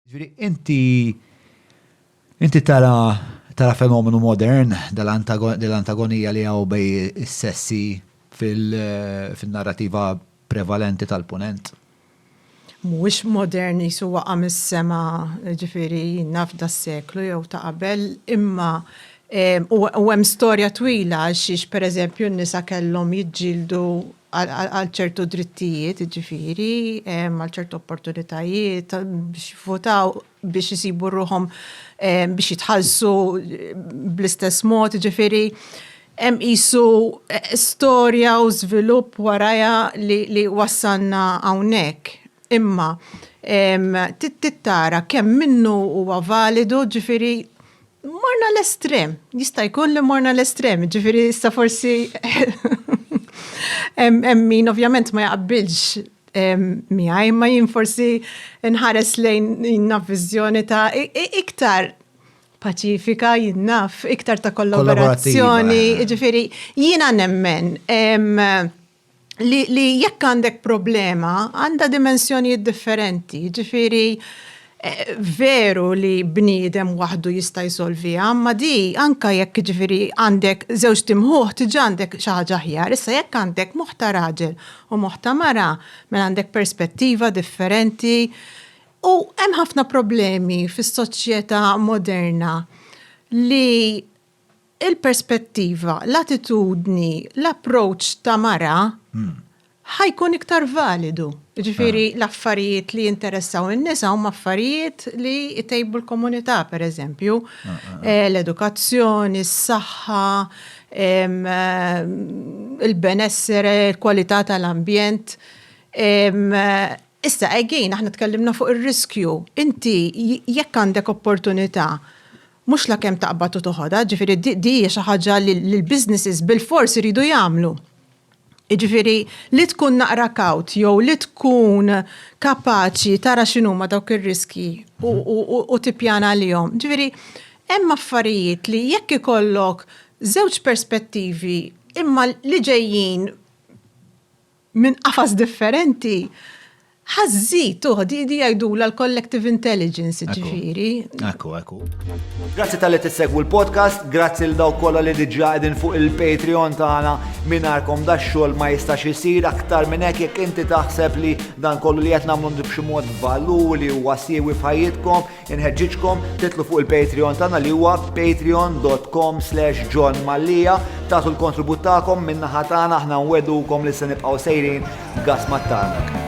Ġifieri inti inti tara tara fenomenu modern dell-antagonija li hawn bej is-sessi fin-narrativa prevalenti tal-Punent? Mhuwiex modern qisu waqa' mis-sema, ġifieri naf das-seklu jew ta' qabel, imma u hemm storja twila għax xiex pereżempju n-nisa kellhom jiġġieldu għal ċertu drittijiet, jiġifieri, għal ċertu opportunitajiet biex jivvotaw, biex isibu ruħhom biex jitħallsu bl-istess mod, jiġifieri hemm qisu storja u żvilupp warajha li wassalna hawnhekk. Imma trid tara kemm minnu huwa validu, jiġifieri Morna l-estrem, jista' jkun li morna l-estrem, ġifieri issa forsi hemm min ovvjament ma jaqbilx miegħi, ma jien forsi nħares lejn jien viżjoni ta' iktar paċifika jien naf, iktar ta' kollaborazzjoni, ġifieri jiena nemmen li, li jekk għandek problema għandha dimensjonijiet differenti, ġifiri eh, veru li bniedem waħdu jista' jsolviha, ma di anka jekk ġifiri għandek żewġ timħuħ tiġa għandek xi ħaġa aħjar, issa jekk għandek moħta raġel u moħta mara, mela għandek perspettiva differenti. U hemm ħafna problemi fis-soċjetà moderna li il-perspettiva, l-attitudni, l-approach ta' mara ħa jkun iktar validu. Jiġifieri l-affarijiet li jinteressaw in-nisa huma affarijiet li jtejbu l-komunità, pereżempju, l-edukazzjoni, s-saħħa, il-benessere, il-kwalità tal-ambjent. Issa, again, aħna tkellimna fuq ir-riskju. Inti jekk għandek opportunità Mhux la kemm taqbad u toħodha, ġifieri din hija xi ħaġa li l-businesses bilfors iridu jagħmlu. Jiġifieri li tkun naqra kawt jew li tkun kapaċi tara x'inhuma dawk ir-riskji u tippjana għalihom. Ġifieri hemm affarijiet li jekk ikollok żewġ perspettivi imma li ġejjin minn qafas differenti, ħa żżid tuħ, di jgħidulha l-collective intelligence, jiġifieri. Ekku, ekku. Grazzi talli tissegwu l-podcast, grazzi lil dawk kollha li diġà qegħdin fuq il-Patreon tagħna mingħajrkom dax-xogħol ma jistax isir aktar minn hekk jekk inti taħseb li dan kollu li qed nagħmlu b'xi mod valur li huwa siewi f'ħajjitkom, Inħeġġiġkom titlu fuq il-Patreon tagħna li huwa patreon.com slash John Mallia tagħtu l-kontribut tagħkom min-naħa tagħna aħna nwedukom li se nibqgħu sejrin gas mat-tarnak.